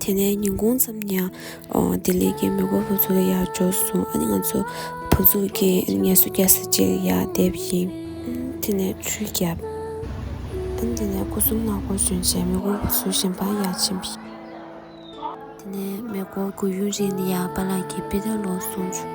དེ་ནས་ཉིན་གུང་ཙམ་ནས་ལྡི་ལི་གི་མེས་པོ་བུ་ཚོ་ཡར་འབྱོར་སོང་ཨ་ནི་ང་ཚོ་བུ་ཚོགས་ཀྱིས་ངལ་གསོ་རྒྱག་ས་ཅིག་ཡར་འདེབས་ཡིན། དེ་ནས་ཆུ་བརྒྱབ། དེ་ནས་སྐུ་གསུམ་ནག་པོ་བྱོན་རྗེས་མེས་པོ་བུ་ཚོ་ཞིང་ཕང་ཡར་ཕྱིན། དེ་ནས་མེ་འཁོར་དགུ་ཡུན་རིང་ལ་ཡར་པཱ་ལགས་ཀྱི་དཔེ་དེབ་ཀློག་སོང།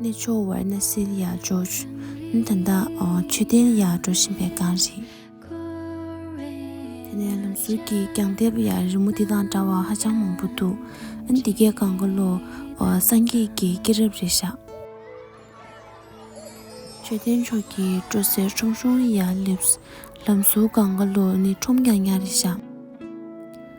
ནས་ཕྱོགས་བར་ན་སིལ་ཡག་འཇོག། ནི་ད་ལྟ་མཆོད་རྟེན་ཡག་འགྲོ་བཞིན་པའི་སྒང་རེད། དེ་ནས་ལམ་ཟུར་གྱི་གྱང་ལྟེ་བ་ཡང་རི་མོ་འདི་དང་འདྲ་བ་ཧ་ཅང་མང་པོ་འདུག་ཨ་ནི་འདི་གའི་སྒང་ག་ལོ་སངས་རྒྱས་ཀྱི་སྐྱེས་རབས་རེད་ཤག། མཆོད་རྟེན་མཆོག་གི་སྤྲོ་གསེར་ཁྲོམ་གཞུང་ཡག་སླེབས། ལམ་ཟུར་སྒང་ག་ལོ་ནི་ཁྲོམ་ཀྱང་ཉག་རེད་ཤག།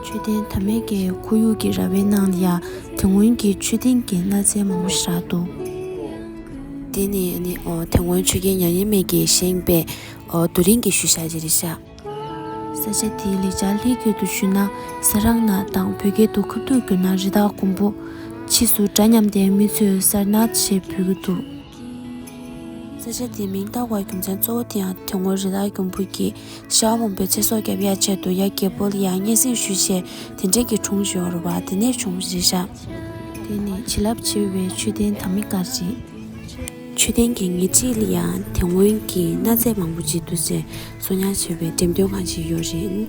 མཆོད་རྟེན་དར་མེད་ཀྱི་ཁོར་ཡུག་གི་ར་བའི་ནང་ལ་ཡང་དེ་སྔོན་གྱི་མཆོད་རྟེན་གྱི་གནའ་རྫས་མང་པོ་བཞག་འདུག། འདི་ནི་དེ་སྔོན་མཆོད་རྒྱལ་མྱ་ངན་མེད་ཀྱིས་བཞེངས་པའི་རྡོ་རིང་གི་ཤུལ་བཞག་ཅིག་རེད་ཤག། ས་ཆ་དེའི་ལེགས་ཆར་ལྷད་སྐྱེས་དུ་ཞུས་ན་ས་རག་ན་དང་བོད་སྐད་དུ་ཁབ་ཐུག་གྱུར་ན་རི་དྭགས་དགུན་འབུ། ཕྱིས་སུ་འདྲ་མཉམ་ལྡན་མི་ཚོས་སར་ནག་ཅེས་འབོད་ཀྱི་འདུག། ས་ཆ་དེའི་མིང་བཏགས་པའི་རྒྱུ་མཚན་གཙོ་བོ་དེ་ཡང་དེ་སྔོན་རི་དྭགས་གྱོང་སྤུར་གྱིས་ཤ་བ་མང་པོའི་ཚེ་སྲོག་བསྐྱབས་ཡ་ཆེད་དུ་ཡ་གྱལ་པོ་ལ་ཡང་སྙན་གསེང་ཞུས་ཆེད་དེ་འབྲེལ་གྱི་དྲུང་ཞོ་རུ་བ་དེ་ནས་བྱུང་རེད་ཤག། དེ་ནི་བྱིན་རླབས་ཆེ་བའི་མཆོད་རྟེན་དམ་མི་དཀར་རྗེས། མཆོད་རྟེན་གྱི་ངེས་ཚིག་ལ་ཡང་དེ་སྔོན་གྱི་གནའ་རྫས་མང་པོ་འཇིག་ཏུ་ཟད་བཟོ་ཉར་བྱས་པའི་འགྲེམས་སྟོན་ཁང་ཞིག་ཡོད་རེད།